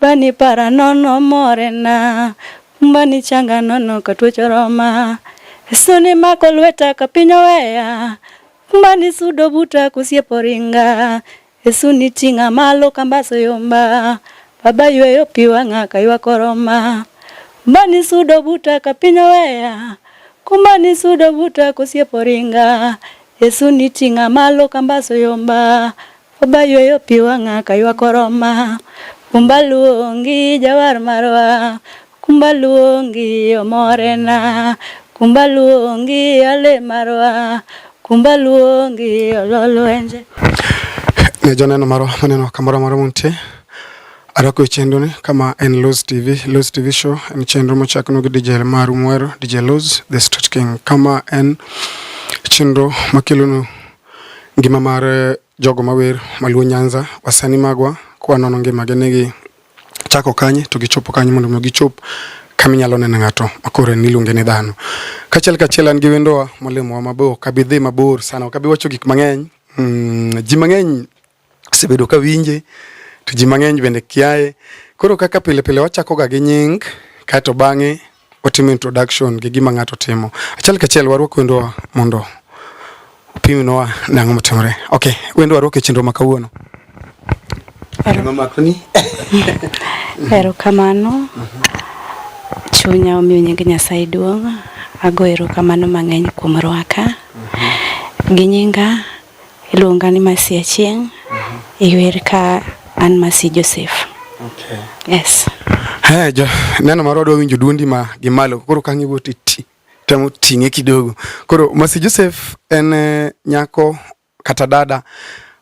Bani para nono morena, bani changa nono katwecho roma. Suni mako lweta ka piny oweya, bani sudo buta kusiepo ringa. Suni ting'a malo kambaso yomba, baba yweyo pi wang'a kaywako roma. Bani sudo buta ka piny oweya, kumbani sudo buta kusiepo ringa. Suni ting'a malo kambaso yomba, Oba yweyo pi wang'a ka ywak oroma, kumba luongi jawar marwa, kumba luongi omorena, kumba luongi ale marwa, kumba luongi ololwenje. Ne joneno marwa maneno kamoro amora muntie Arako e chenro ni kama en Luz TV. Luz TV show en chenro mochakno gi DJ Maru Mwero, DJ Luz, The Street King. Kama en chenro makelonu Ngima mar eh, jogo mawer maluo Nyanza wasani magwa kwa nono ngima gi negi chako kanye to gichopo kanye mondo gichop kama inyalo neno ng'ato makoro en iluonge ni dhano. Kachiel kachiel an gi wendowa molemowa mabor, kabi dhi mabor sana, kabi wacho gik mang'eny. Mm, ji mang'eny asebedo ka winje to ji mang'eny bende kiaye. Koro kaka pile pile wachakoga gi nying kaeto bang'e watimo introduction gi gima ng'ato timo. Achiel kachiel warwak wendwa mondo opimnwa nang'o motimore. Ok, wendwa warwak e chenro ma kawuono. Erokamano. Chunya omiyo nying Nyasaye duong'. Ago erokamano mang'eny kuom rwaka. Gi nyinga Iluonga ni Masi Achieng'. Mm -hmm. Iwer ka an Masi Joseph. Okay. Yes. Hey, jo, neno marwa dwa winjo duondi ma gi malo koro ka ngiwo titi temo ting'e kidogo. Koro Masi Joseph en eh, nyako kata dada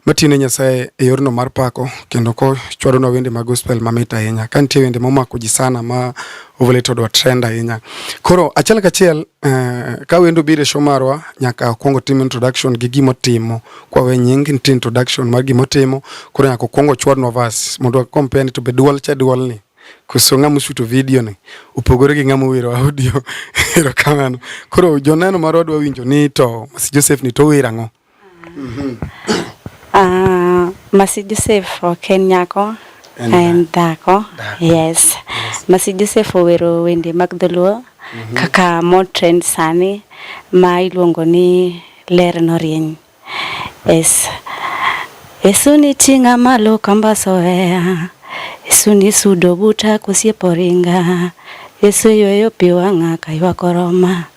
matine Nyasaye e yorno mar pako kendo kochwadonwa wende mag gospel mamit ahinya. Ka nitie wende momako ji sana ma Ovole to dwa trend ahinya. Koro achiel kachiel eh, ka wendo biro e show marwa nyaka akwong otim introduction gi gima otimo. Kwa we nying nitie introduction mar gima otimo, koro nyaka okwong ochwadnwa verse mondo compare ni to be duol cha duol ni. Koso ng'ama oshuto video ni opogore gi ng'ama owero audio. Erokamano. Koro joneno marwa dwa winjo ni to Mercy Joseph ni to owero ang'o? Uh, Masi Joseph ok en nyako en dhako yes. yes. Masi Joseph owero wende mag dholuo mm -hmm. kaka motrend sani ma iluongo ni ler norieny yes. Yesu ni ting'a malo kamba soea Yesu ni sudo buta kosiepo ringa Yesu yoyo pi wang'a kaywa koroma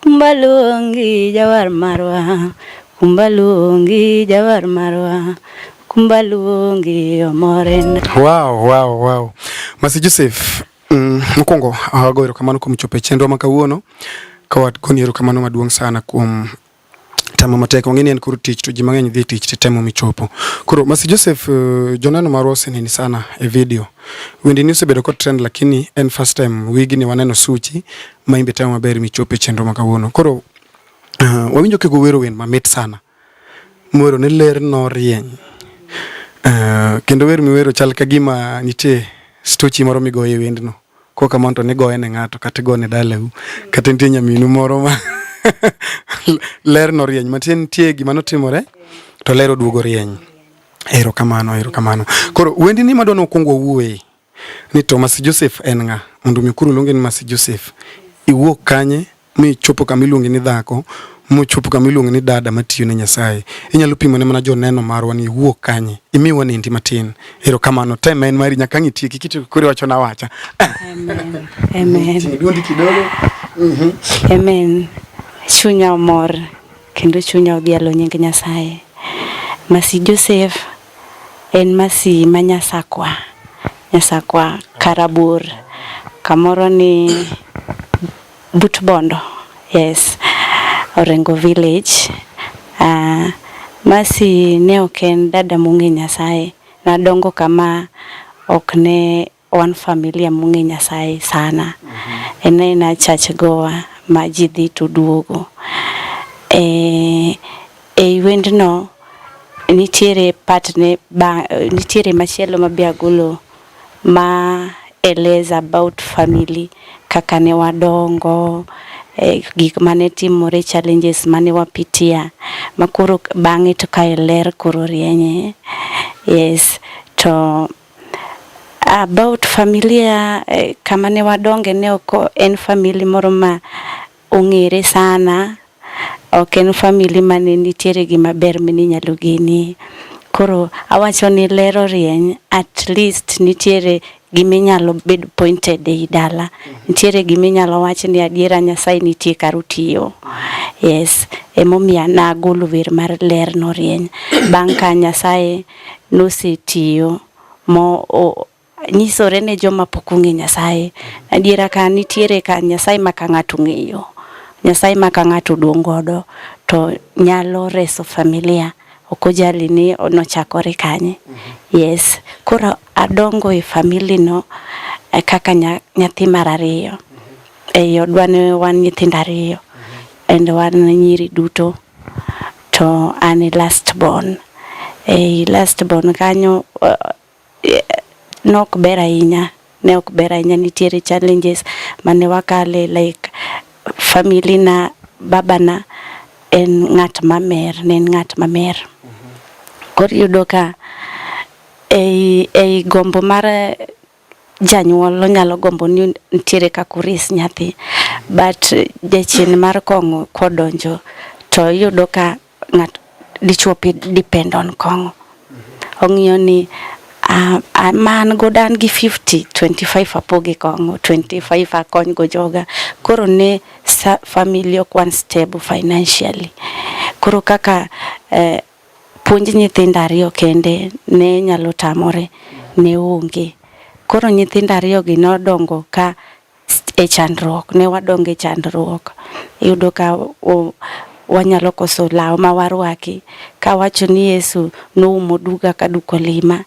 Kumbaluongi jawar marwa, kumbaluongi jawar marwa, kumbaluongi omorena. Wow, wow, wow. Masi Joseph, mm, mokwongo awago erokamano kuom chopo e chenro ma kawuono ka wagoni erokamano maduong' sana kuom temo matek wang'e ni en koro tich to ji mang'eny dhi tich to temo michopo koro Mercy Joseph uh, joneno marwa oseneni sana e video wendini osebedo kod trend lakini en first time wigni waneno suchi ma imbe temo maber michopo e chenro ma kawuono koro uh, wawinjo kego wero wen mamit sana mwero ne ler norieny uh, kendo wer miwero chal ka gima nitie stochi moro migoye wendno Kok kamano to nigoye ne ng'ato kata igo ne dalau kata nitie nyaminu moro ma ler norieny matie nitie gima notimore to ler oduogo rieny. Erokamano, erokamano. Koro wendi ni madwa nokwongo wuoye ni Thomas Joseph en ng'a? Mondo mi kuru luonge ni Thomas Joseph. Iwuok kanye? michopo kama iluongi ni dhako mochopo kama iluongi ni dada matiyo ne Nyasaye. Inyalo pimo ne mana joneno marwa ni wuok kanye. Imi wanendi matin. Erokamano. Tem en mari nyaka ang' itieki kiti koro wacho na wacha. Amen. Amen. Ting' duondi kidogo. Mhm. Amen. Chunya omor kendo chunya odhialo nying Nyasaye. Masi Joseph en masi ma Nyasakwa. Nyasakwa Karabur. Kamoro ni But Bondo. Yes. Orengo village. Uh, Masi ne ok en dada mung'e Nyasaye. Nadongo kama ok ne wan familia mung'e Nyasaye sana. Mm -hmm. En aena church goa ma ji dhi to duogo. E, e wendno nitiere part ne ba, nitiere machielo ma be agolo ma eleza about family kaka ne wadongo, eh, gik mane timore, challenges mane wapitia makoro bang'e to kae ler koro rienye. Yes, to about familia eh, kama ne wadonge ne ok en family moro ma Ong'ere sana, ok en family mane nitiere gima ber mane inyalo genie. Koro awacho ni ler orieny at least nitiere gima inyalo bedo pointed ei dala. Nitiere gima inyalo wach ni adiera Nyasaye nitie kar otiyo. Yes, emomiyo an agolo wer mar ler norieny. Bang' ka Nyasaye nosetiyo mo nyisore ne joma pok ong'e Nyasaye. Adiera ka nitiere ka Nyasaye ma ka ng'ato ng'eyo, Nyasaye ma ka ng'ato duong' godo to nyalo reso familia. Ok ojali ni nochakore kanye. Mhm. Yes. Koro adongo e famili no e kaka nyathi mar ariyo. Mhm. E odwa ne wan nyithindo ariyo. Mhm. And wan nyiri duto. To an e last born. E last born kanyo ne ok ber ahinya ne ok ber ahinya nitiere challenges mane wakale like family na baba na en ng'at mamer ne en ng'at mamer koro iyudo ka ei, ei gombo mar janyuol onyalo gombo ni nitiere kaka oris nyathi but jachien mar kong'o kodonjo to iyudo ka ng'at dichuo depend on kong'o ong'iyo ni uh, uh, man godo an gi 50 25 apoge kong'o 25 akony go joga koro ne family ok one stable financially koro kaka eh, puonj nyithindo ariyo kende ne nyalo tamore ne onge koro nyithindo ariyo gi nodongo ka e chandruok, ne wadonge chandruok. Iyudo ka wanyalo koso law ma warwaki ka wacho ni Yesu noumo duga ka duk olima.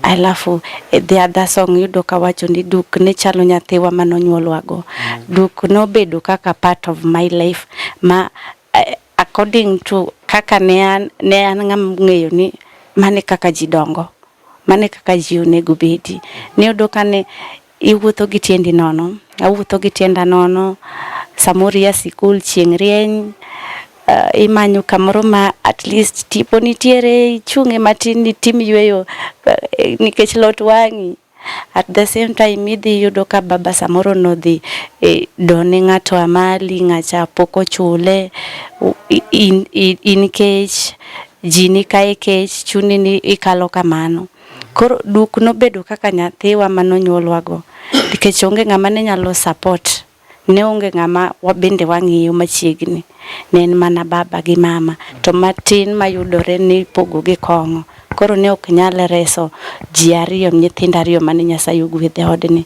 Alafu e the other song yudo ka wacho ni duk ne chalo nyathiwa ma nonyuolwa go. Duk nobedo kaka part of my life ma eh, according to kaka ne an ne an ng'ama ng'eyo ni mane kaka ji dongo mane kaka ji onego bedi. Niyudo ka ne Iwuotho gi tiendi nono, awuotho gi tienda nono, samoro ia sikul chieng' rieny, uh, imanyo kamoro ma at least tipo nitiere, ichung'e matin nitim yueyo uh, eh, nikech lot wang'i at the same time idhi yudo ka baba samoro nodhi e, done ng'ato amali ng'acha pok ochule in, in, in kech ji ni kae kech chuni ni ikalo kamano Koro duk nobedo kaka nyathiwa ma nonyuolwago nikech onge ng'ama ne nyalo support ne onge ng'ama wabende wang'iyo machiegni ne en mana baba gi mama to matin mayudore ni pogo gi kong'o koro ne ok nyal reso ji ariyo nyithindo ariyo mane Nyasaye ogwedhe odni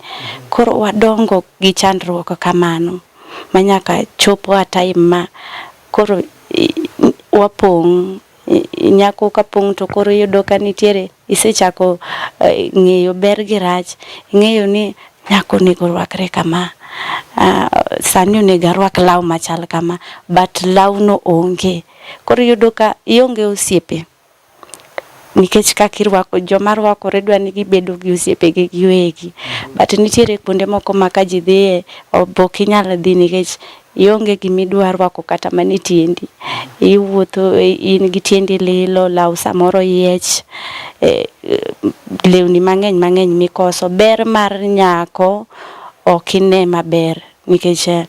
koro wadongo gi chandruok kamano manyaka chopo a time ma koro wapong' nyako ka pong' to koro iyudo ka nitiere isechako eh, ng'eyo ber gi rach ing'eyo ni nyako onego orwakre kama ah, sani onego arwak law machal kama but lawno onge koro iyudo ka ionge osiepe nikech kaka irwako joma rwakore dwa ni gibedo gi osiepegi giwegi but nitiere kuonde moko ma ka ji dhiye ok inyal dhi nikech Ionge gima idwa rwako kata mana e tiendi. Iwuotho in gi tiendi lilo, law samoro yiech, eh, lewni mang'eny mang'eny mikoso. Ber mar nyako ok ine maber nikech eh,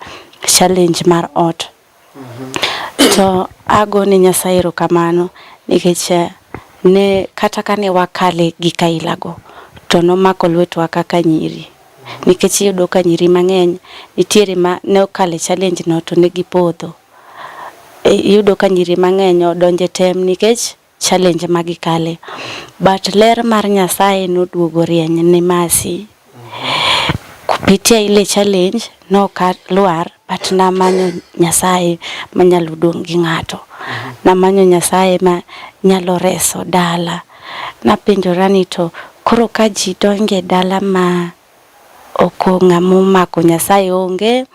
challenge mar ot. To ago ne Nyasaye erokamano nikech eh, ne kata kane wakale gi kailago to nomako lwetwa kaka nyiri. nikech iyudo ka nyiri mang'eny nitiere ma ne okalo e challenge no to ne gipodho. Iyudo ka nyiri mang'eny odonjo e tem nikech challenge ma gikale. But ler mar Nyasaye noduogo rieny ne Mercy. Kupitia ile challenge noka lwar But namanyo Nyasaye manyalo dong' gi ng'ato. Mhm. Namanyo Nyasaye ma nyalo reso dala. Napenjora ni to koro ka ji donge dala ma oko ng'ama omako Nyasaye onge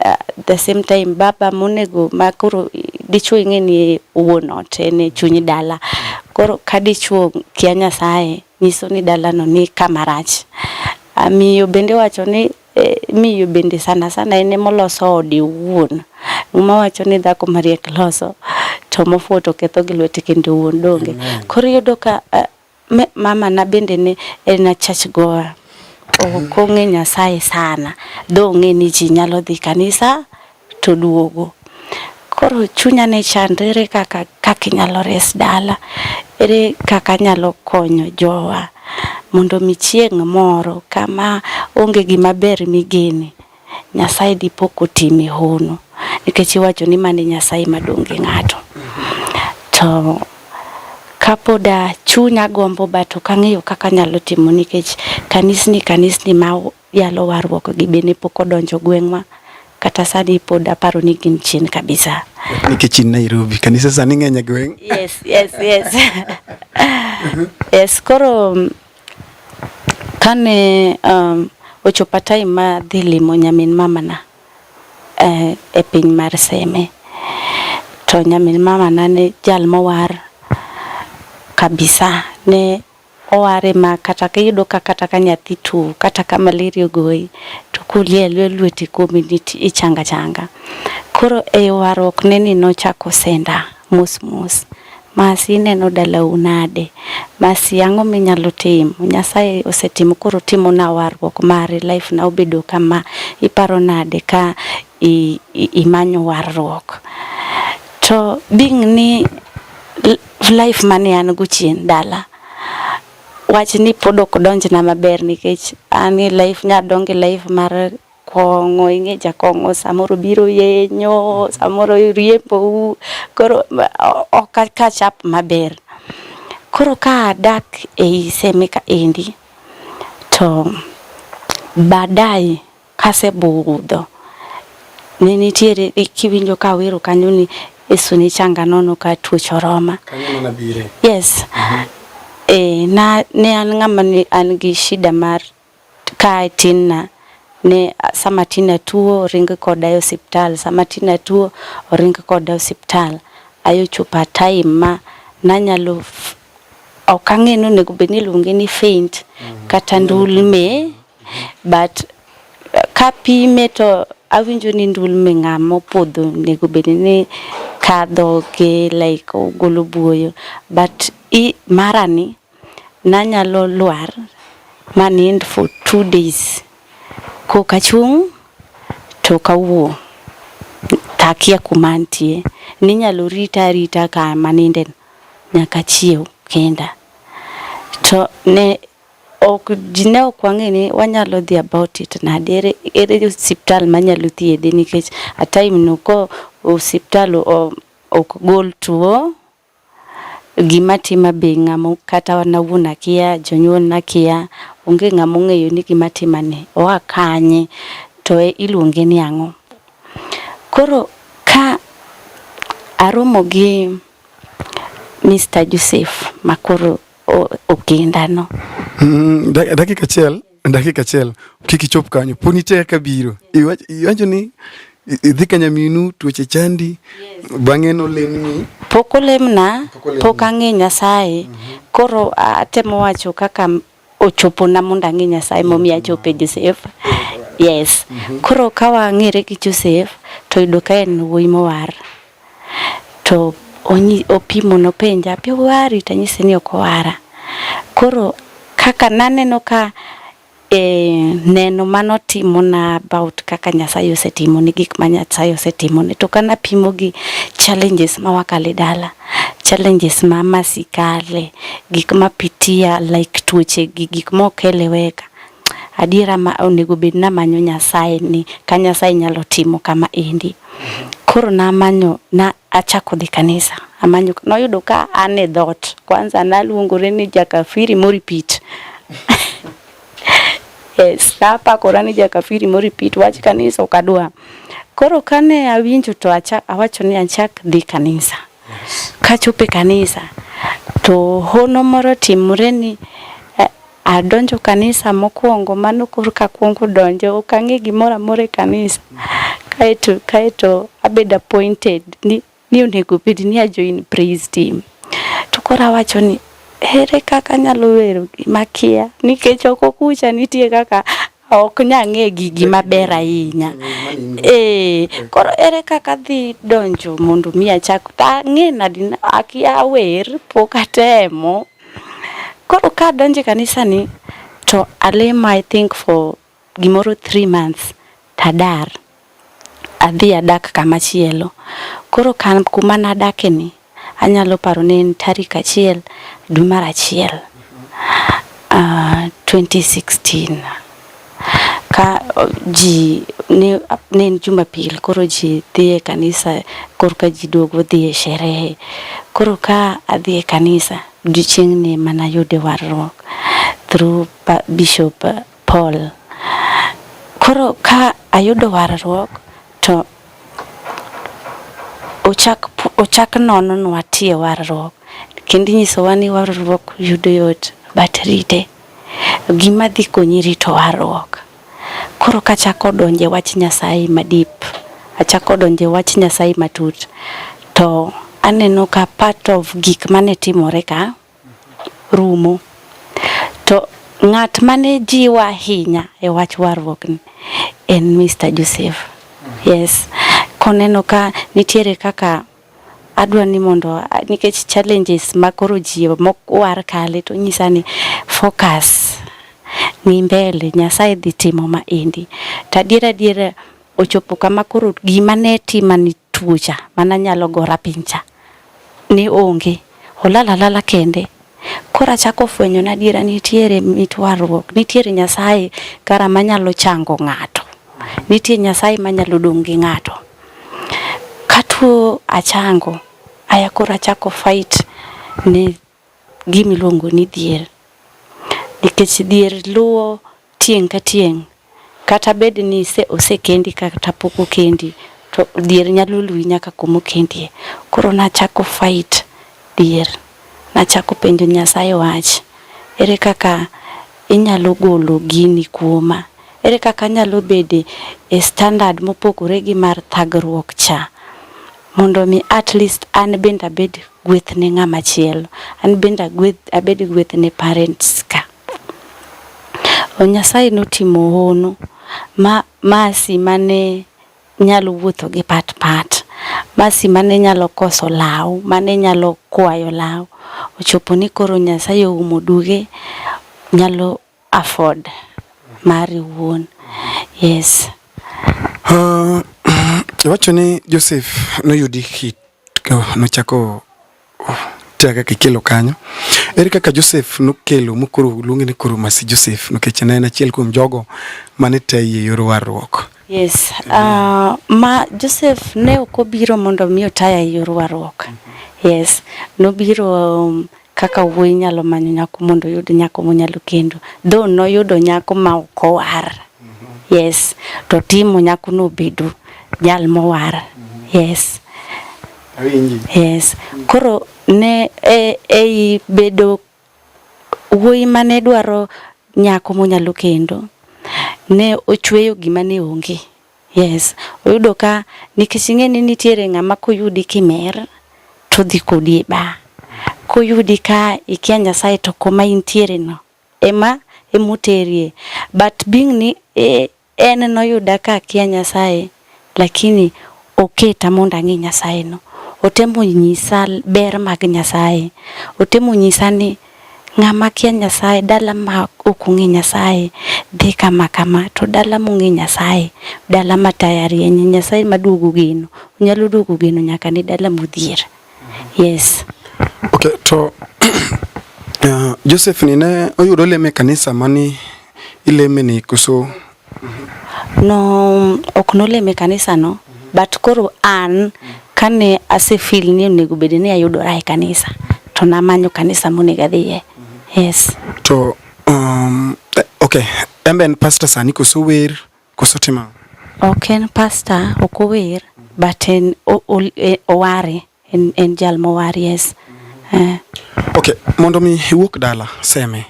uh, the same time baba monego ma koro dichwo ing'e ni wuon ot en e chuny dala koro ka dichwo kia Nyasaye nyiso ni dalano ni kama rach. Miyo bende wacho ni Eh, miyo bende sana sana en emoloso ode owuon. Muma wacho ni dhako mariek loso to mofuwo to ketho gi lwete kendo owuon donge. Koro iyudo ka uh, me, mama na bende ne en a church goer. Ok ong'e Nyasaye sana. Dho ong'e ni ji nyalo dhi kanisa to duogo. Koro chunya ne chando ere kaka kaka inyalo res dala, ere kaka anyalo konyo jowa mondo mi chieng' moro kama onge gima ber migene, Nyasaye dipo kotimi hono. Nikech iwacho ni mane Nyasaye madong' gi ng'ato. To kapoda chunya gombo but ok ang'eyo kaka anyalo timo nikech kanisni kanisni ma Yalo warruok gi be ne pok odonjo gweng'wa kata sani pod aparo ni gin chien kabisa. Nikech in Nairobi, kanise sani ng'eny e gweng'. Yes, yes, yes. yes, koro kane um, ochopa time ma dhi limo nyamin mamana eh, e piny mar Seme to nyamin mamana ne jal mowar kabisa ne Oware ma kata ka iyudo ka kata ka nyathi two kata ka malaria ogoyi to koli alwe lweti kuomi ni ti- ichango achanga. Koro e yo warruokne ni nochako senda mos mos. Mercy ineno dalau nade? Mercy ang'o minyalo timo? Nyasaye osetimo koro otimona warruok mare life na obedo kama. Iparo nade ka i, i, imanyo warruok? To being ni l- life mane an go chien dala wach ni pod ok donjna maber nikech an e life nya donge life mar kong'o ing'e jakong'o samoro biro yenyo samoro riembou koro ok akachap maber koro ka adak ei semeka endi to baadaye Kase budho ne nitiere kiwinjo ka wero kanyo ni Yesu ni changa nono ka tuoch oroma. Yes. Mm -hmm. E, na, ne an ng'ama ne an gi shida mar ka tinna ne sama tina tuo ring koda e osiptal sama tina tuo oring koda e osiptal ayo chupa time ma nanyalo ok ang'e ni onego bed ni iluonge ni faint mm. kata ndulme but ka pime to awinjo ni ndulme ng'a mopodho nego bed ni kadho gi like ogolo buoyo but i marani nanyalo lwar manind for two days koka chung' to kawuo takia kuma ntie ninyalo rita arita ka manindeno nyaka chiew kenda to ne Ok ji ne ok wang'e ni wanyalo dhi about it nade ere ere hospital manyalo thiedhe nikech a time no ko hospital ok gol tuo gima tima be ng'amo kata wan awuon akia jonyuol nakia onge ng'ama ong'eyo ni gima tima ni oa kanye to e, iluonge ni ang'o koro ka aromo gi Mr. Joseph makoro okindano. Mm, dakika achiel dakika achiel kik ichop kanyo pod nitie kaka biro iwacho ni idhi ka nyaminu tuoche chandi bang'e nolemni pok olemna pok ang'e nyasaye mhm. koro atemo wacho kaka ochopona mondo ang'e nyasaye momiyo mhm. achope josef yes mhm. koro ka wang'ere gi josef to yudo ka en wuoyi mowar to opimo nopenja api owari to anyise ni ok owara koro kaka naneno ka e, neno manotimo na about kaka Nyasaye osetimo ni gik ma Nyasaye osetimo ni to kana pimo gi challenges ma wakale dala challenges ma masikale gik ma pitia like tuoche gi gik ma okele weka adiera ma onego bed namanyo Nyasaye ni ka Nyasaye nyalo timo kama endi. Koro namanyo na achako dhi kanisa. Amanyo noyudo ka an e dhot. Kwanza naluongore ni jakafiri moripit. yes, napakora ni jakafiri moripit wach kanisa ok adwa. Koro kane awinjo to achak awacho ni achak dhi kanisa. Kachope kanisa to hono moro timore ni Adonjo kanisa mokwongo mano korka akwongo donjo ok ang'e gimoro amora e kanisa kaeto kaeto abedo appointed ni, ni onego bed ni ajoin praise team to koro awacho ni ere kaka anyalo wero gima kia nikech ok okucha nitie kaka ok nya ng'e gigi maber ahinya ee koro ere kaka dhi donjo mondo mi achak ang'e nadi akia wer pok atemo koro ka donje kanisani to alemo i think for gimoro three months tadar adhi adak kama chielo. Koro kan kuma nadake ni anyalo paro ne en tarik achiel dwe mar achiel uh, ah, 2016 ka ji ne, ne en jumapil koro ji dhi e kanisa koro ka ji duogo dhi e sherehe koro ka adhi e kanisa odiochieng'ni mana yude warruok through bishop Paul. Koro ka ayudo warruok to ochak ochak nononwa tie warruok kendo inyisowa ni warruok yudo yot but rite gima dhi konyi rito warruok koro kachako donje wach nyasaye madip achako donje wach nyasaye matut to aneno ka part of gik mane timore ka rumo. To ng'at mane jiwa ahinya e wach warruok ni en Mr. Joseph. Yes. Koneno ka nitiere kaka adwa ni mondo nikech challenges ma koro ji mokwar kale to nyisa ni focus ni mbele Nyasaye dhi timo ma endi. To adiera adiera ochopo kama koro gima ne tima ni tuocha mana nyalo gora pincha ni onge olala alala kende koro achako fwenyo na adiera nitiere mitwarruok nitiere nyasaye kara manyalo chango ng'ato nitie nyasaye manyalo dong' gi ng'ato katuo achango aya koro achako fight ni gima iluongo ni dhier nikech dhier luwo tieng' ka tieng' kata bed ni osekendi kata pok okendi to dhier nyalo luwi nyaka kuma okendie. Koro nachako fight dhier, nachako penjo Nyasaye wach, ere kaka inyalo golo gini kuoma, ere kaka anyalo bedo e standard mopogore gi mar thagruok cha. mondo mi at least an bende abed gweth ne ng'ama chielo an bende agweth abed gweth ne parents ka o nyasaye notimo hono ma masi mane nyalo wuotho gi pat pat masi mane nyalo koso law mane nyalo kwayo law ochopo ni koro nyasaye oumo duge nyalo afford mari wuon yes uh, iwacho ni Joseph noyudi hit nochako tea kaka ikelo kanyo ere kaka Joseph nokelo mokoro luonge ni koro masi Joseph nikech ne en achiel kuom jogo mane teye yor warruok Yes. Uh, ma Joseph ne ok obiro mondo mi otaya e yor warruok. Yes. Nobiro um, Kaka wuoyi nyalo manyo nyako mondo oyud nyako monyalo kendo. Dho noyudo nyako ma ok owar. Mhm. Yes. To timo nyako no bedo jal mowar. Mhm. Yes. Awinji. Yes. Koro ne e, ei bedo wuoyi mane dwaro nyako monyalo kendo ne ochweyo gima ne onge. Yes, oyudo ka nikech ing'e ni nitiere ng'ama koyudi kimer to dhi kodi e bar. Koyudi ka ikia Nyasaye to koma intiere no ema emoterie. But being ni e, en noyuda ka akia Nyasaye lakini oketa mondo ang'e Nyasaye no. Otemo nyisa ber mag Nyasaye. Otemo nyisa ni Ng'ama kia Nyasaye, dala ma ok ong'e Nyasaye dhi kama kama. To dala mong'e Nyasaye, dala ma taya rienye, Nyasaye ma duogo geno, onyalo duogo geno nyaka ne dala modhier. Yes. Okay, to uh, Joseph ni ne oyudo leme kanisa mani ileme ni koso Mhm. No ok nolem e kanisa no, mhm. but koro an kane ase feel ni onego bed ni ayudora e kanisa to namanyo kanisa monego adhiye. Mhm. Yes. To um, eh, okay, embe en pastor sani koso wer koso timo? Ok en pastor, ok ower but en e, oware. en, en jal mowar yes eh. ok mondo mi iwuok dala seme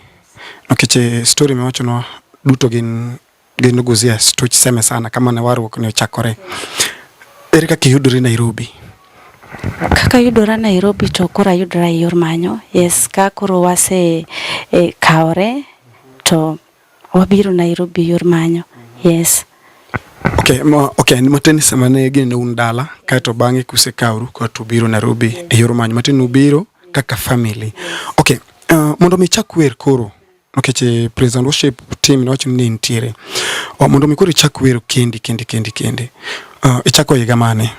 nikech eh, story miwachonwa duto gin gin guzia stoch seme sana kama ne warruok ne ochakore ere kaka iyudori nairobi kaka yudora nairobi to koro ayudora e yor manyo yes ka koro wase e, kawore to Wabiro Nairobi yor manyo. Yes. Okay, ma, okay, matin sama ne gin un dala kaeto bang'e kusekauru kaeto ubiro Nairobi e yor manyo matin ubiro kaka family. Okay, uh, mondo mi chak wer koro nikech okay, present worship team nowacho ni nitiere. Uh, mondo mi koro ichak wer kendi kendi kendi kendi. Uh, ichako higa mane?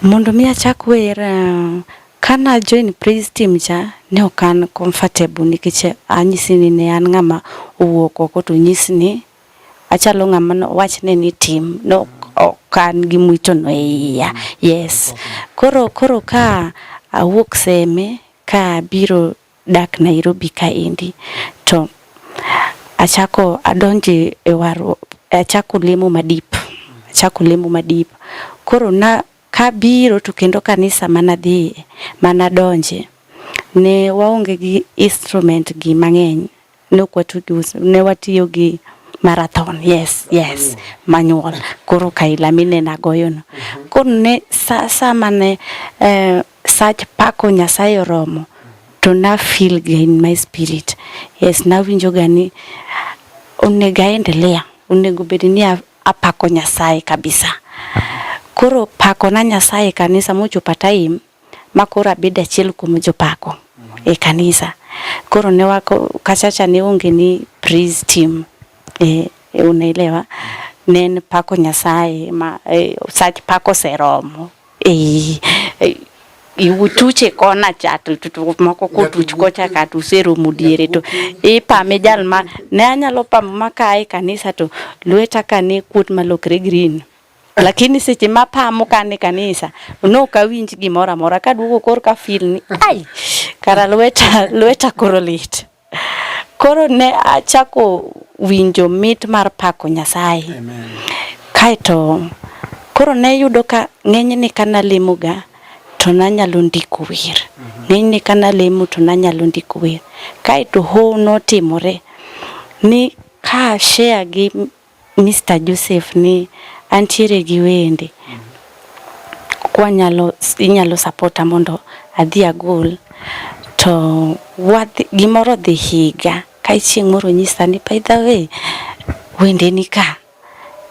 Mondo mi achak wer uh, Ka na join praise team cha ne ok an comfortable nikech anyisi ni ne an ng'ama owuok oko to nyis ni achalo ng'ama no wach ne ni tim no ok an gi mwito no iya yes koro koro ka awuok seme ka biro dak Nairobi ka endi to achako adonje e waru achako lemo madip achako lemo madip koro na Kabiro to kendo kanisa manadhiye manadonje ne waonge gi instrument gi mang'eny ne ok watugi ne watiyo gi marathon yes yes manual koro kaila mine nagoyono koro ne sa sama ne eh, sach pako nyasaye oromo to na feel ga in my spirit yes nawinjo ga ni onego aendelea onego bed ni a- Apako Nyasaye kabisa. Koro pako na Nyasaye kanisa mochopa time ma koro abedo achiel kuom jopako e kanisa. Koro ne wako kachacha ne onge ni praise team. E, e unaelewa. Ne pako Nyasaye ma e, sach pako seromo. Ei, ei, iwutuche kona cha to to- to moko kotuch kocha ka to useromo diere to ipame jal ma ne anyalo pamo ma ka e kanisa to lweta ka ne kuot malokre green lakini seche ma pamo ka ne kanisa ne ok awinj gimoro amora kaduogo kor ka feel ni ai kara lweta lweta koro lit Koro ne achako winjo mit mar pako Nyasaye. Kaeto koro ne yudo ka ng'enyne ka nalemoga to nanyalo ndiko wer. Mhm. Ng'enyne ka nalemo to nanyalo ndiko wer. Kaeto ho notimore ni ka share gi Mister Joseph ni antiere gi wende kwanyalo inyalo sapota mondo adhi agol to wadhi, gimoro dhi higa kae chieng' moro nyisa ni by the way wende ni ka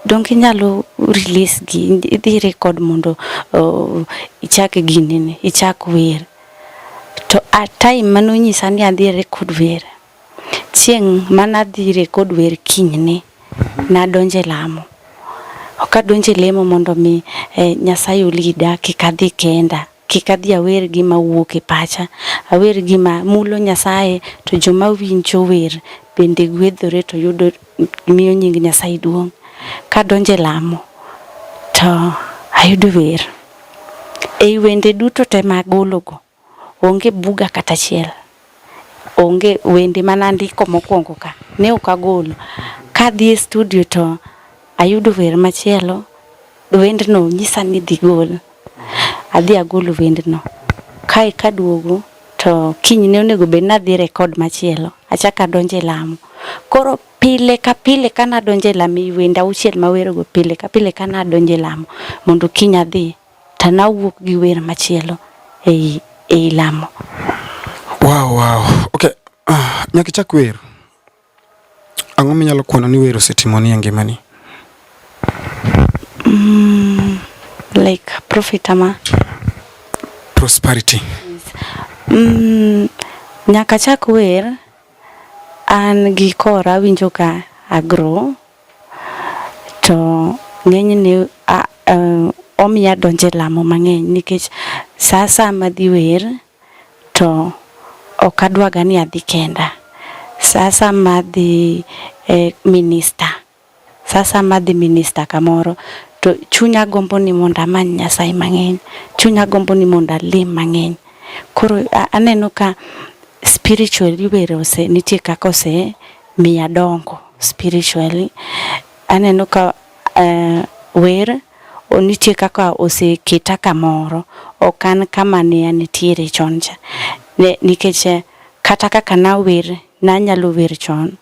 donge inyalo release gi idhi record mondo uh, ichak ginene ichak wer to at time manonyisa ni adhi record wer Chieng' mane adhire kod wer kinyne, nadonjo e lamo. Ok adonjo e lemo mondo mi eh, Nyasaye olida kik adhi kenda. Kik adhi awer gima wuok e pacha. Awer gima mulo Nyasaye to joma winjo wer bende gwedhore to yudo miyo nying Nyasaye duong'. Kadonjo e lamo to ayudo wer. Ei wende duto te magologo, Onge buga kata achiel, onge wende mana ndiko mokwongo ka ne ok agolo. Kadhi e studio to ayudo wer machielo, wendno nyisa ni dhi gol, adhi agolo wendno. Kae kaduogo to kiny ne onego bed nadhi rekod machielo, achako adonjo e lamo. Koro pile ka pile ka nadonjo e lamo, wende auchiel mawerogo pile ka pile ka nadonjo e lamo mondo kiny adhi. to nawuok gi wer machielo ei ei lamo. Wow, wow. Okay. Uh, nyaka ichak wer. Ang'o minyalo kwano ni wer osetimoni e ngimani? Mm, like profit ama prosperity. Mm, nyaka chak wer an gi kora awinjo ka agro to ng'enyne omiya donje lamo mang'eny nikech saa saa madhi wer to ok adwaga ni adhi kenda. Saa saa madhi e minista, saa saa madhi minista kamoro to chunya gombo ni mondo amany Nyasaye mang'eny, chunya gombo ni mondo alem mang'eny. Koro aneno ka spiritually were ose nitie kaka ose miya dongo spiritually. Aneno ka uh, wer nitie kaka oseketa kamoro ok an kama ne anitiere chon cha nikech eh, kata kaka nawer nanyalo wer chon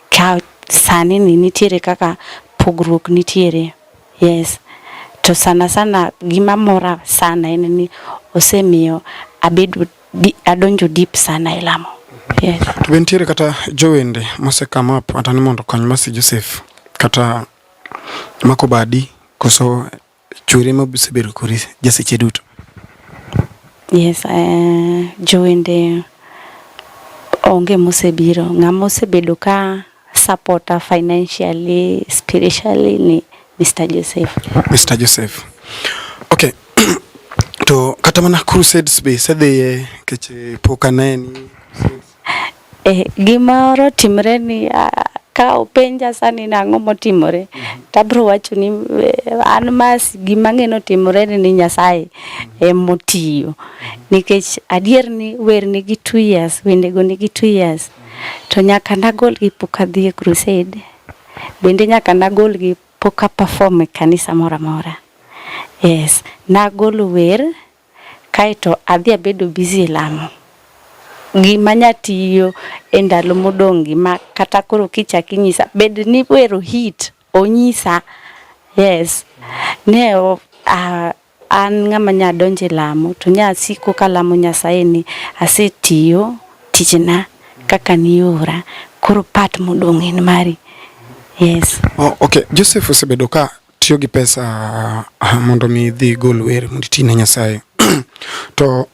ka sani ni nitiere kaka pogruok nitiere yes to sana sana gima mora sana en ni osemiyo abedo di, adonjo deep sana e lamo. Yes. To be nitiere kata jowende mose come up kata ni mondo kony Mercy Joseph kata mako badi koso chwere ma bisebedo kori jaseche duto. Yes, uh, jowende onge mosebiro ng'ama osebedo ka supporter financially, spiritually ni Mr. Joseph. Mr. Joseph. Okay. to kata mana crusades be sedhiye keche pok aneni. Eh, gimoro timre ni uh, ka openja sani nang'o motimore mhm. tabro wacho ni eh, an mas gima ng'eno timore ni ni Nyasaye mhm. emotiyo mhm. nikech adier ni wer nigi two years wendego nigi two years to nyaka nagolgi pok adhi e crusade, bende nyaka nagolgi pok a perform e kanisa moro amora. Yes, nagolo wer kaeto adhi abedo busy e lamo. Gima nya tiyo e ndalo modong' gi ma kata koro kichak inyisa bed ni wero hit onyisa. Yes, ne o, ah, An ng'ama nya donjo e lamo to nya siko kalamo Nyasaye ni asetiyo tijna kaka niora koro part modong' en mari. Yes. Oh, okay. Joseph osebedo ka tiyo gi pesa uh, mondo mi dhi gol wer mondo iti ne Nyasaye to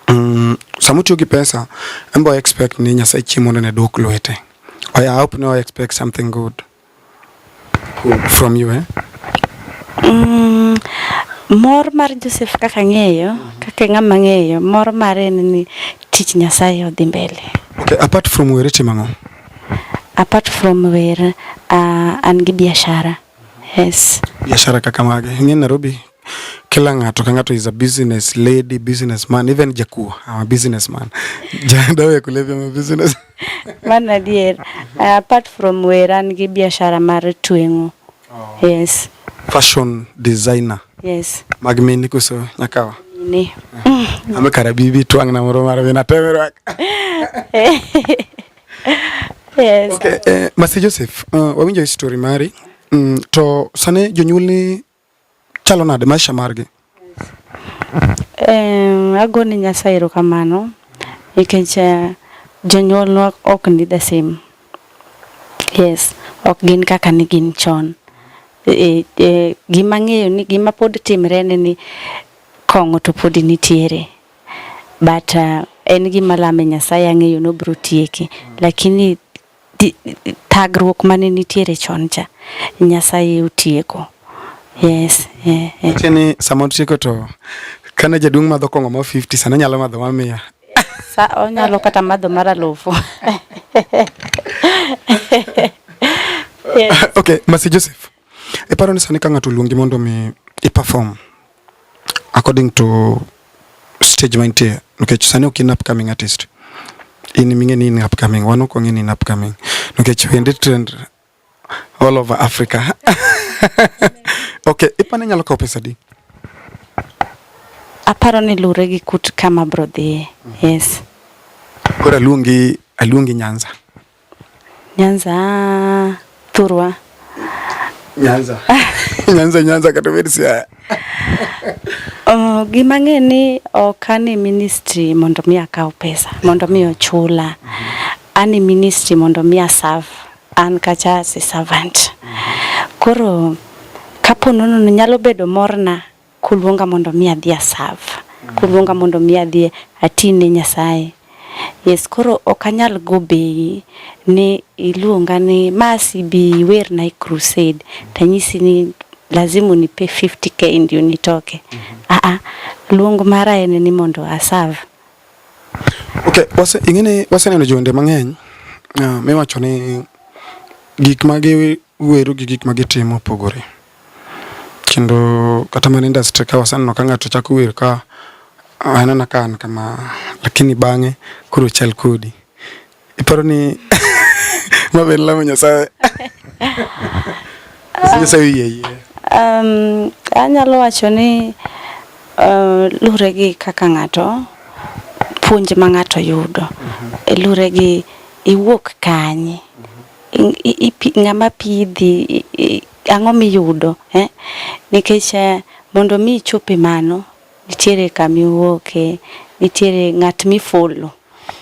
um, sama otiyo gi pesa embo expect ni Nyasaye chieng' mondo ne duok lwete. I hope no expect something good. From you, eh? Mm, mor mar Joseph kaka ng'eyo, kaka ng'ama ng'eyo, mor mare en ni tich Nyasaye odhi mbele. Okay, apart from were timo ang'o? Apart from were, uh, an gi biashara. Yes. Biashara kaka mage? Ing'e Nairobi kila ng'ato ka ng'ato is a business lady, business man, even jakuo I'm a business man. Dawa ya kulevya I'm a business. Man adier. Uh, apart from wera an gi biashara mar tweng'o. Oh. Yes. Fashion designer. Yes. Mag mini kuso nyakawa. Ni. Mm. Ame karabibi twang na moro mara vina temerwa. Yes. Okay, eh, Masi Joseph, uh, wawinjo story mari. Mm, to sane jonyuol ni chalo nade maisha margi? Um, ago ni Nyasaye erokamano nikech uh, jonyuolwa ok ni the same. Yes, ok gin kaka ne gin chon. E, e, gima ng'eyo ni gima pod timre ne ni kong'o to pod nitiere but uh, en gima lame Nyasaye ang'eyo ni obiro tieke lakini thagruok mane nitiere chon cha Nyasaye otieko. Yes. Eh, eh. Kini sama otieko to kane jaduong' madho kong'o ma 50 sana nyalo madho ma mia. Sa onyalo kata madho mar alufu. yes. Okay, Masi Joseph. Iparo ni sani ka ng'ato oluongi mondo mi i perform according to stage mantie nikech sani ok in upcoming artist in ming'e ni in upcoming wan ok wang'e ni in upcoming nikech wendi trend all over Africa okay ipani nyalo kawo pesa di aparo ni lure gi kut kama bro dhiye yes kora luongi aluongi Nyanza Nyanza Thurwa. Nyanza. Nyanza Nyanza kata bed Siaya. Oh, gima ng'e ni ok ane ministry mondo mi akaw pesa mondo mi ochula. Ane ministry mondo mi aserve an kacha as a servant. Koro kapo nono nyalo bedo morna kuluonga mondo mi adhi a serve, kuluonga mondo mi adhi ati ne Nyasaye. Yes, koro ok anyal go bei ni iluonga ni masi bi werna e crusade tanyisi ni lazima unipe 50k ndio nitoke. Mm -hmm. Ah ah, luong mara en ni mondo a serve. Okay, wase ingine waseneno jonde mang'eny uh, miwacho ni gik ma gi weru gi gik ma gitimo opogore. Kendo kata mana industry ka waseneno ka ng'ato chako wer ka anana ka an kama lakini bang'e koro chal kodi. Iparo ni ma be en lamo Nyasaye? Nyasaye oyie yie. Um, anyalo wacho ni uh, lure gi kaka ng'ato puonj ma ng'ato yudo. Mhm. Lure gi iwuok kanye. ng'ama pidhi ang'o miyudo eh? nikech eh, mondo mi ichop e mano nitiere kama iwuoke nitiere ng'at mifolo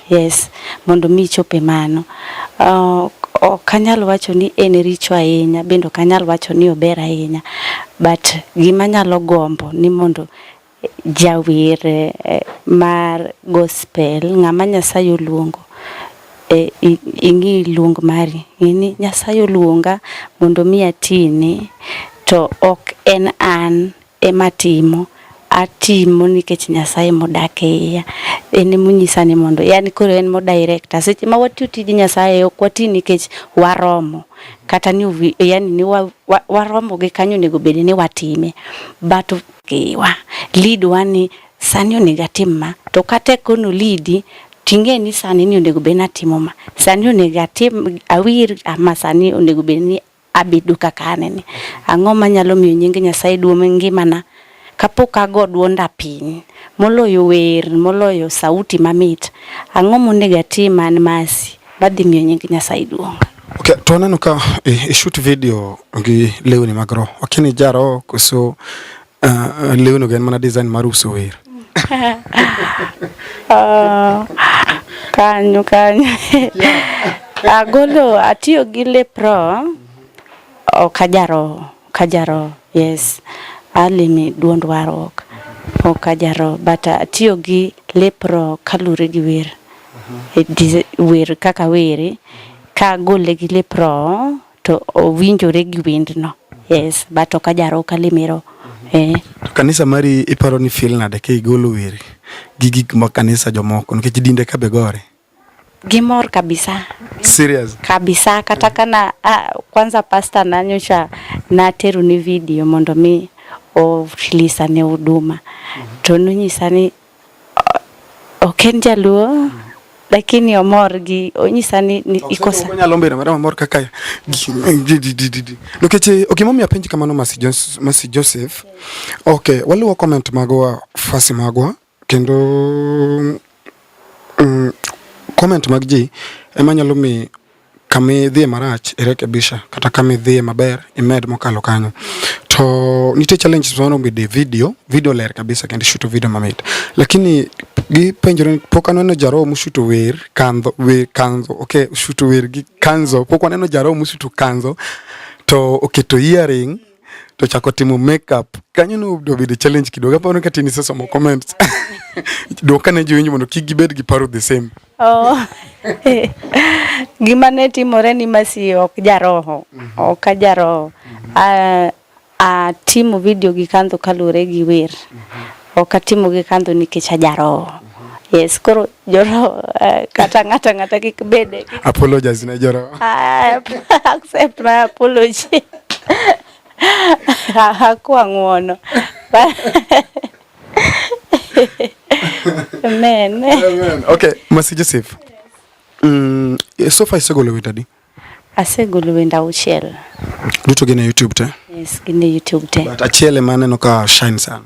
yes mondo mi ichop e mano uh, ok anyal wacho ni en richo ahinya bende ok anyal wacho ni ober ahinya but gima nyalo gombo ni mondo jawer eh, mar gospel ng'ama Nyasaye oluongo eh, ing'i luong mari ng'eni Nyasaye oluonga mondo mi atini to ok en an ema timo atimo nikech Nyasaye modak e iya en emonyisa ni mondo yani koro en modirecta seche ma watiyo tij Nyasaye ok wati nikech waromo kata ni yani ni waromo gi kanyo onego bed ni watime but Iwa, lead wa ni sani onego atim ma, to kata ekono lidi ting'e ni sani ni onego bed ni atimo ma, sani onego atim awir ama sani onego bed ni abedo kaka aneni. Ang'o manyalo miyo nying Nyasaye duong' e ngimana kapok ago duonda piny, moloyo wer, moloyo sauti mamit. Ang'o monego atim an Mercy? Badhi miyo nying Nyasaye duong'. Okay, to aneno ka i shoot video gi lewni mag roho. Okay, ni jaro koso uh, lewni gen mana design mar uso wer. uh, kanyo kanyo. Agolo atiyo gi lep roho ok ajaro. Ka jaro, yes. Alimi duond warruok. Ok ka jaro, but uh, atiyo gi lep roho kalure gi wer. E dis- Wer kaka were, ka agole gi lep roho to owinjore gi wendno. Yes, but ok ajaro, ok alimi roho. Eh. To kanisa mari iparo ni feel nade ka igolo weri gi gik ma kanisa jomoko nikech dinde ka be gore? Gimor kabisa. Serious. Kabisa kata kana ah, kwanza pasta nanyocha nateru ni video mondo mi ofilisa ne huduma mm -hmm. to nonyisa ni ok en jaluo mm -hmm. lakini omor gi onyisa ni, ni okay, iko sa nyalo mbera mara omor kaka nikech eh, ok momiyo apenji kamano Masi Joseph Masi Joseph okay waluwo comment magwa fasi magwa Kendo mm, comment mag ji ema nyalo mi kami dhiye marach irekebisha kata kami dhiye maber imed mokalo kanyo to nitie challenges mano bide video video ler kabisa kendo shuto video mamit lakini gipenjore pok aneno jaro mushuto wer kandho wer kanzo okay shuto wer gi kanzo pok aneno jaro mushuto kanzo to oketo earring to chako timo makeup kanyo no do be the challenge kidogo aparo ka tini sasa mo comments do kana jowinjo mondo kik gibed gi paro the same oh gima ne timore ni masi ok jaroho mm -hmm. ok ajaroho mm -hmm. uh, uh, timo video gi kandho kalure gi wer mm -hmm. Ok atimo gi kandhu nikech ajaroho. Yes, koro joroho eh, kata ng'ata ng'ata kik bede. Apologize ne joroho. Ah, accept my apology. Hakuwa ng'uono. Amen. Amen. Okay, Masi Joseph. Mm, so far isegolo wit adi? Asegolo wenda auchiel. Duto gin e YouTube te? Yes, gin e YouTube te. But achiel ema aneno ka shine sana.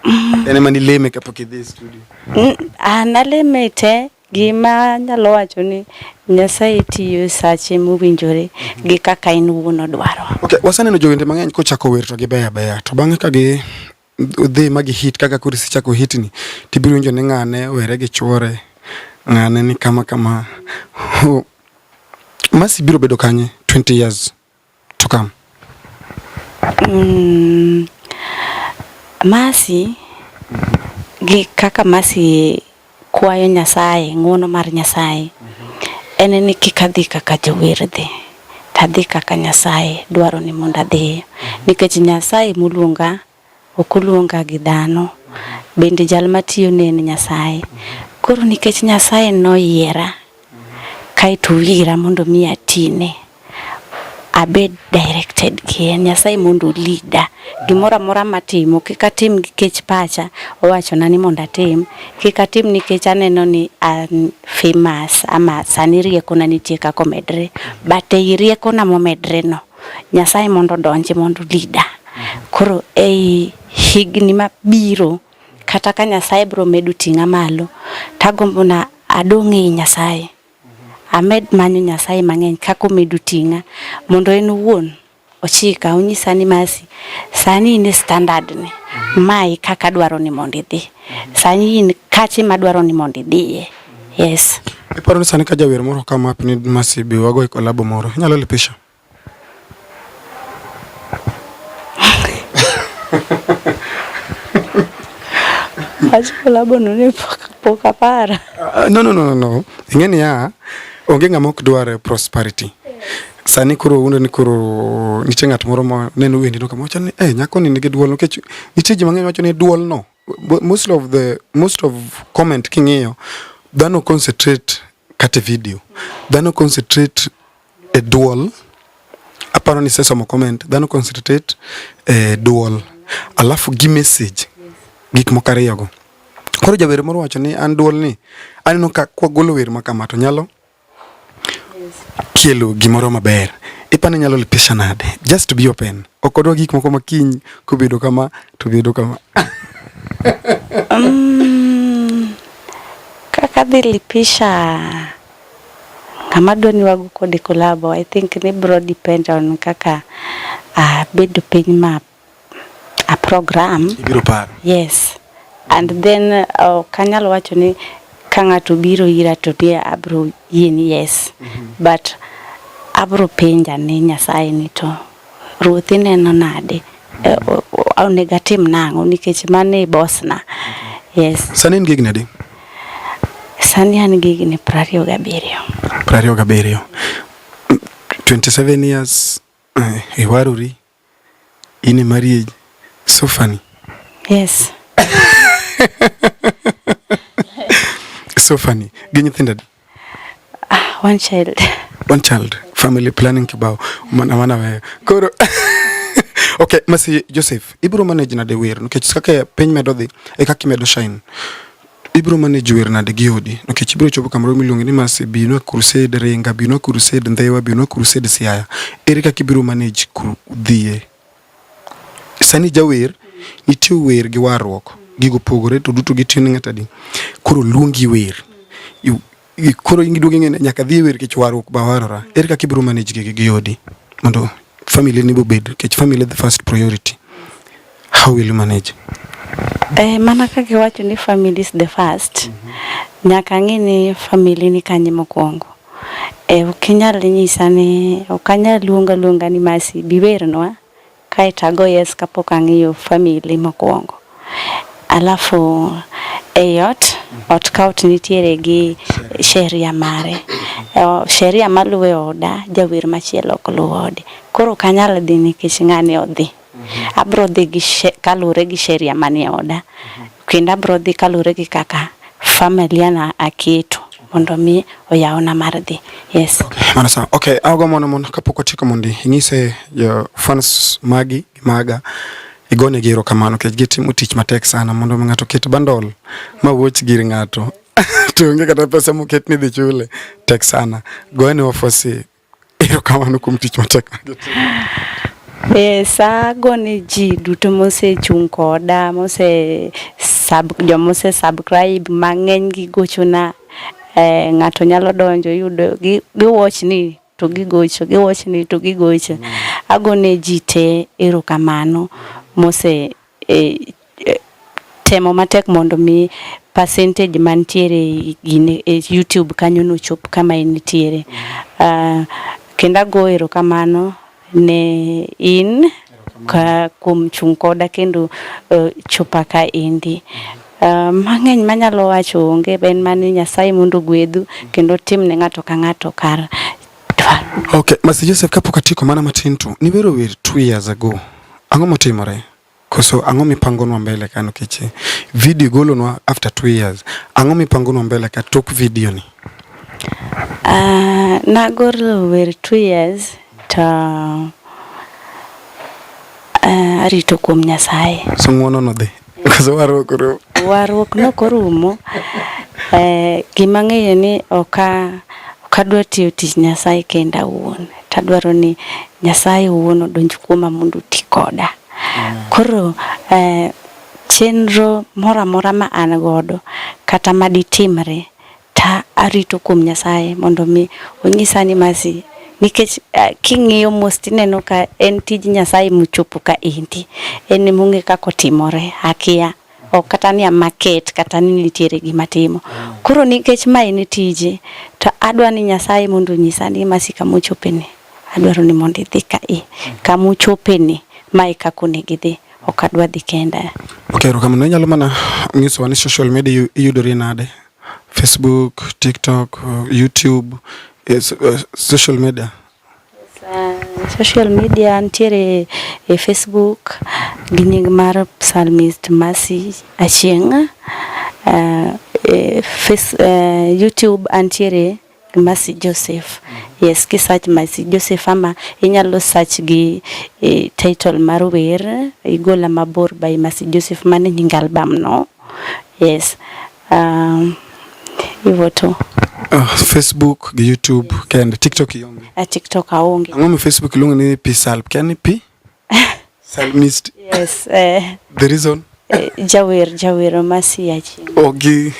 Mm. En ema nileme kapok idhi e studio. Mm, an aleme te gima nyalo wacho ni Nyasaye tiyo e sache mowinjore mhm. gi kaka in wuon odwaro. Okay, wasaneno jowende mang'eny kochako wer to gibeyo abeya to bang'e ka gi udhi ma gihit kaka koro isechako hitni tibiro winjo ni ng'ane were gi chwore ng'ane ni kama kama masi biro bedo kanye 20 years to come mm, masi gi kaka masi Kwayo Nyasaye, ng'uono mar Nyasaye en ni kik adhi kaka jower dhi, to adhi kaka Nyasaye dwaro ni mondo adhiye. Nikech Nyasaye moluonga ok oluonga gi dhano, bende jal matiyo ne en Nyasaye. Koro nikech Nyasaye noyiera, Kaeto wira mondo mi atine abed directed gi en Nyasaye mondo olida gimoro amora matimo kik atim nikech pacha owachona ni mondo atim kik atim nikech aneno ni an famous ama sani riekona nitie kaka omedre but ei riekona momedre no Nyasaye mondo odonji mondo olida koro ei higni mabiro Kata ka Nyasaye biro medo ting'a malo, to agombo na adong' ei Nyasaye. Amed manyo Nyasaye mang'eny kaka omedo ting'a mondo en owuon ochika onyisa ni masi sani in e standard ni mae kaka adwaro ni mondo idhi. Sani in kache madwaro ni mondo idhiye. Yes. Iparo ni sani ka jawer moro kama apni masi bi wago e kolabo moro, inyalo lipisha? Acho labda nune poka para. Uh, no, no, no, no. Ingeni ya onge ng'ama ok dwar prosperity. Sani koro uno ni koro nitie ng'at moro ma neno wendi no kama wacho ni eh, nyako ni nigi duol nikech nitie ji mang'eny wacho ni duol no most of the most of comment king'iyo dhano concentrate kate video dhano concentrate e duol aparo ni sesomo comment dhano concentrate e duol alafu gi message gik moko ariyogo koro jawer moro wacho ni an duol ni aneno ka kwagolo wer ma kama to nyalo kelo gimoro maber ipani nyalo lipisha nade just to be open ok odwa gik moko makiny kobedo kama to bedo kama um, kaka dhi lipisha Ng'ama dwa ni wago kode kolabo, I think ni bro depend on kaka abedo piny ma a program. Ibiro paro. Yes. And then uh, kanyalo wacho ni ka ng'ato biro ira to ni abro yie ni yes. Mm -hmm. But abro penja ni Nyasaye ni to Ruoth ineno nade? Eh, o- o- Onego atim nang'o nikech mano e bosna. Yes. Sani in gi higni adi? Sani an gi higni piero ariyo gabiriyo. Piero ariyo gabiriyo. 27 years eh, iwarori in e marriage so funny Yes. so funny gi nyithindo adi? Ah, one child. One child. Family planning kibao. Mana mana wewe. Koro. okay, masi Joseph, ibro manage na de wer. Nikech kaka piny medo dhi, e kaka imedo shine. ibiro manage wer nade gi odi nikech ibiro chopo kamoro miluongo ni masi bino crusade ringa bino crusade ndhewa bino crusade siaya ere kaka ibiro manage dhie Sani jawer nitie wer gi warruok gigo opogore to duto gitiyo ne ng'ato adi koro luongi wer koro giduogo ing'e nyaka dhi wer kech warruok ba warora ere kaka ibiro manage gigi gi odi mondo family ni bobed kech family the first priority how will you manage Eh, mana kaka iwacho ni family is the first mm -hmm. nyaka ang'e ni family ni kanye mokwongo Eh, ok inyal nyisa ni ok anyal luongo aluonga ni Mercy biwernwa kae to ago yes kapok ang'iyo family mokwongo. Alafu ei ot, ot ka ot nitiere gi sheria mare. Eh, sheria maluwe oda, jawer machielo ok luw ode. Koro ok anyal dhi nikech ng'ani odhi. Abro dhi gi kalure gi sheria manie oda kendo abro dhi kalure gi kaka familia na aketo mondo mi oyawna mar dhi yes mana sana okay ago mono mono kapok wachiko mondi inyise jo fans magi maga igone giro kamano kech gitimo tich matek sana mondo ng'ato ket bandol ma wuoch gir ng'ato to onge kata pesa moket ni dhi chule tek sana goene wafosi Erokamano kuom tich matek Yes, ago ni ji duto mosechung' koda mose sub jomose subscribe mang'eny gi gochona eh, ng'ato nyalo donjo yudo gi watch ni to gi gocho gi watch ni to gi gocho mm. ago ne ji te erokamano mose e, e, temo matek mondo mi percentage mantiere gine e YouTube kanyo no chop kama in nitiere. Uh, kendo ago erokamano ne in ka kuom chung' koda kendo uh, chopa ka endi. Uh, mang'eny manyalo wacho onge en mani Nyasaye mondo gwedhu kendo tim ne ng'ato ka ng'ato kar Okay, Master Joseph kapok atieko mana matin to nibero wer two years ago. Ang'o motimore? Koso ang'o mipangonwa mbele ka nikech video golonwa after two years. Ang'o mipangonwa mbele ka tok video ni? Uh, nagolo wer two years to uh, arito kuom Nyasaye. So ng'wono nodhi. Koso warruok orumo. Warruok nok orumo. Eh, gima ng'eyo ni oka okadwa tiyo tich Nyasaye kenda awuon. Tadwaro ni Nyasaye owuon odonj kuoma mondo oti koda. Koro eh, chenro moro amora ma an godo kata maditimre Ta arito kuom Nyasaye mondo mi onyisa ni masi nikech uh, king'iyo mos tineno ka en tij Nyasaye mochopo ka endi en emong'e kako timore akia ok kata ni amaket kata ni nitiere gima timo koro nikech ma en tije to adwa ni Nyasaye mondo onyisa ni masi kama ochopeni adwaro ni mondo idhi ka i kama ochopeni mae kaka onego idhi ok adwa dhi kenda ok erokamano inyalo mana nyisowa ni social media iyudori nade Facebook, TikTok, YouTube, eh, eh, social media. Uh, social media nitiere e Facebook gi nying mar Psalmist Mercy Achieng'. Uh, e face, uh, YouTube antiere Mercy Joseph. Yes, ki search Mercy Joseph ama inyalo search gi e, title mar wer igola mabor by Mercy Joseph mane nying album no. Yes. Um, hivyo tu. Uh, Facebook gi YouTube kende TikTok ionge. A ah, TikTok aonge. Ang'o mi Facebook iluongo ni P Salp? Kani P? Salmist. Yes. Uh, the reason? Uh, eh, Jawer, Jawer, Masiachi. Ogi.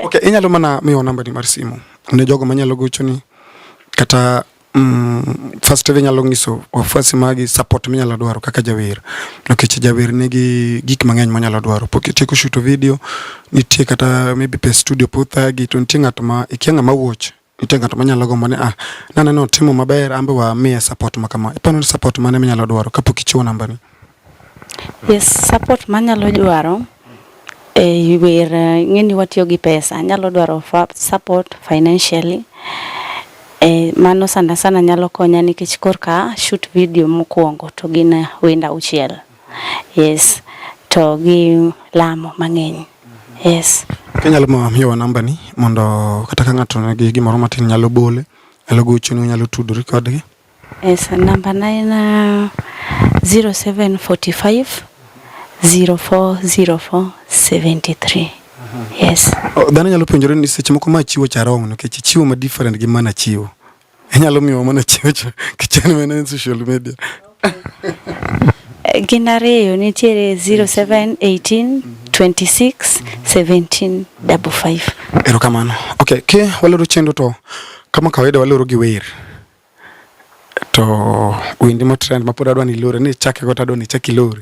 okay, inyalo mana miwa namba ni mar simu ne jogo manyalo gochoni kata mm, first ever inyalo nyiso wafuasi magi support minyalo dwaro kaka jawer nikech jawer nigi gik mang'eny monyalo dwaro pok itieko shuto video nitie kata maybe pe studio puthagi to nitie ng'at ma ikia ng'ama wuoch nitie ng'ato manyalo gombo ni ah, naneno otimo maber ambe wa miye support ma kama. Iparo ni support mane minyalo dwaro kapok ichiwo namba ni? Yes, support manyalo dwaro e wer ng'eni watiyo gi pesa, nyalo dwaro support financially. E, mano sana sana nyalo konya nikech korka shoot video mokwongo to gin wenda auchiel. yes to gi lamo mang'eny yes Kinyalo ma miyowa namba ni mondo kata ka ng'ato nigi gimoro matin nyalo bole, nyalo gochonu, nyalo tudori kodgi. yes namba na en ah, 0745 040473 yes O, Dhano nyalo penjore ni seche moko ma chiwo cha wrong nikech chiwo ma different gi mana chiwo. Inyalo miwa mana chocho kichani mana e social media. Eh, gin ariyo nitiere 07 18 26 17 55. Erokamano. Okay, ke waloro chenro to kama kawaida waloro gi wer. To wendi mo trend mapod adwa ni lore ni chake go tadwa ni chaki lore.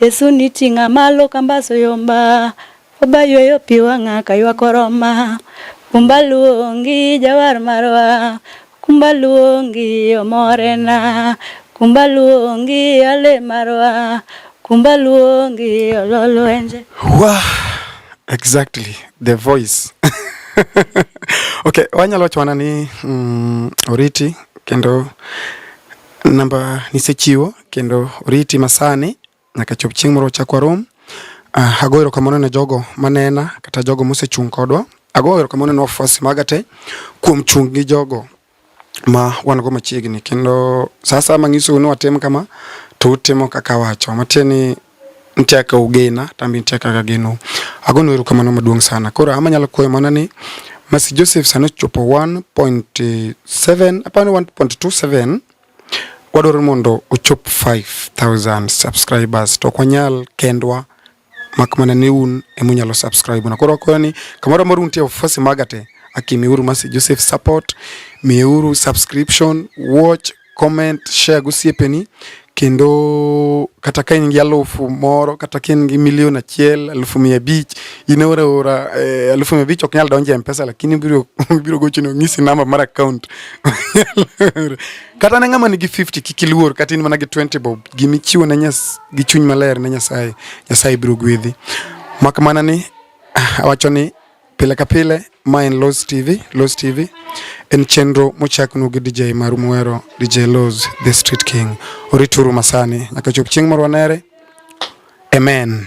Yesu ni ting'a malo kambaso yomba Oba yweyo pi wang'a kaywak oroma Kumba luongi jawar marwa Kumba luongi omorena Kumba luongi ale marwa Kumba luongi ololwenje Wah, exactly, the voice Okay, wanyalo wacho wana ni mm, oriti kendo Namba nisechiwo kendo oriti masani nyaka chop chieng' moro chak warom. Uh, ago erokamano ne jogo manena kata jogo mosechung' kodwa. Ago erokamano ne wafuasi maga te kuom chung' gi jogo ma wan go machiegni kendo sasa mang'iso ni watim kama to utimo kaka wacho matieni nitie kaka ugena to an be nitie kaka ageno. Agonu erokamano maduong' sana. Koro ama nyalo kwayo mana ni Mercy Joseph sani ochopo 1.7 apani 1.27 wadwaro mondo ochop 5000 subscribers to ok wanyal kendwa mak mana ni un ema unyalo subscribe na. Koro akwayo ni kamoro amora untie ofisi maga te akimiuru Mercy Joseph support, miuru subscription, watch comment, share gi osiepeni kendo kata ka in gi alufu moro kata ka in gi milion achiel alufu mia abich in ora ora eh, alufu mia abich ok nyal donjo e mpesa lakini biro biro gochoni onyisi namba mar account kata ne ng'ama nigi 50 kik iluor kata in mana gi 20 bob gima ichiwo ne nyas gi chuny maler ne nyasaye nyasaye biro gwedhi mak mana ni ah, awacho ni Pile ka pile ma en Loz TV, Loz TV en chenro mochaknu gi DJ maru muhero DJ Loz the Street King. Orituru masani nyaka chop chieng' moro wanere. Amen.